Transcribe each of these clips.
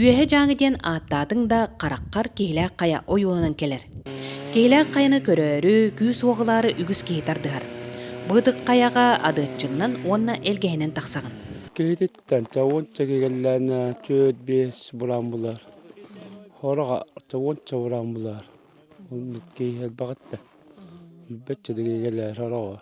Үөһэ Дьааҥы диэн ааттаатыҥ да, хараххар киһилээх хайа ойууланан кэлэр. Киһилээх хайаны көрөөрү, күүс-уох ылаары үгүс киһи тардыһар. Быытык хайаҕа адыаччыҥнан уонна элгэһинэн тахсаҕын. Киһититтэн чавынча кигэллээнэ түөрт биэс булан булар. Хороҕа чавынча булан булар. Киһи элбэҕиттэ. Билбэччэ кигэллэр хороҕор.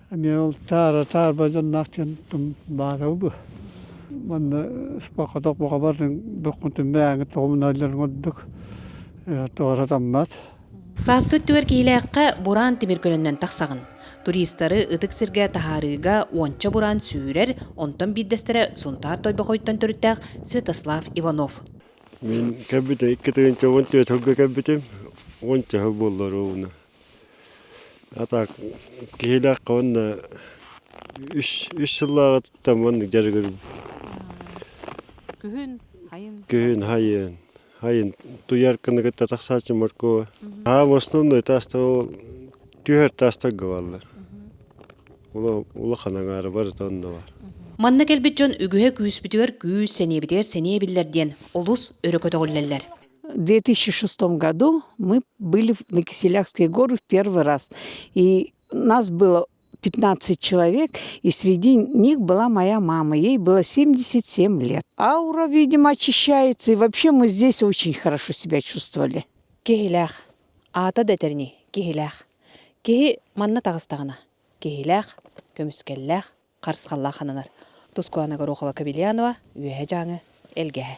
Эмиэ ол таара таарба дьонноох диэн баара бу манна спокоток бухабардың буккунтун мээңи тоҕумналларын ордук тоора таммат Сааскы өттүгэр киилээххэ бураан тимир көнөннөн тахсаҕын. Туристары ытык сиргэ таһаарыыга уонча бураан сүүрэр, онтон биирдэстэрэ Сунтаар Тойбохойтон төрүттээх Святослав Иванов. Мин кэлбитим икки тыһыынча уон түөрт сылга кэлбитим. Уон чаһы буоллар уна. А так киһилээххэ уонна үс үс сыллааҕытыттан маннык дьарыгырбын Күһүн, хайын. күһүн хайын хайын туйарканы кытта тахсааччы моркуба хаам основной таастар ол түһэр таастарга бааллар ула- улахан аҥаара барыта онно баар Манна кэлбит дьон үгүһэ күүспүтүгэр күүс, сэниэбитигэр сэниэ эбиллэр диэн олус өрө көтөҕүллэллэр. В две тысячи шестом году мы были на Киселявские горы в первый раз. И нас было 15 человек, и среди них была моя мама. Ей было 77 лет. Аура, видимо, очищается, и вообще мы здесь очень хорошо себя чувствовали. Киһилээх. Аата да этерни, киһилээх. Киһи манна тагыстагана. Киһилээх, көмүскэллээх, харысхаллаах хананар. Тускуана Горохова Кабельянова, Үөһэ Жаңы, Элгэһэ.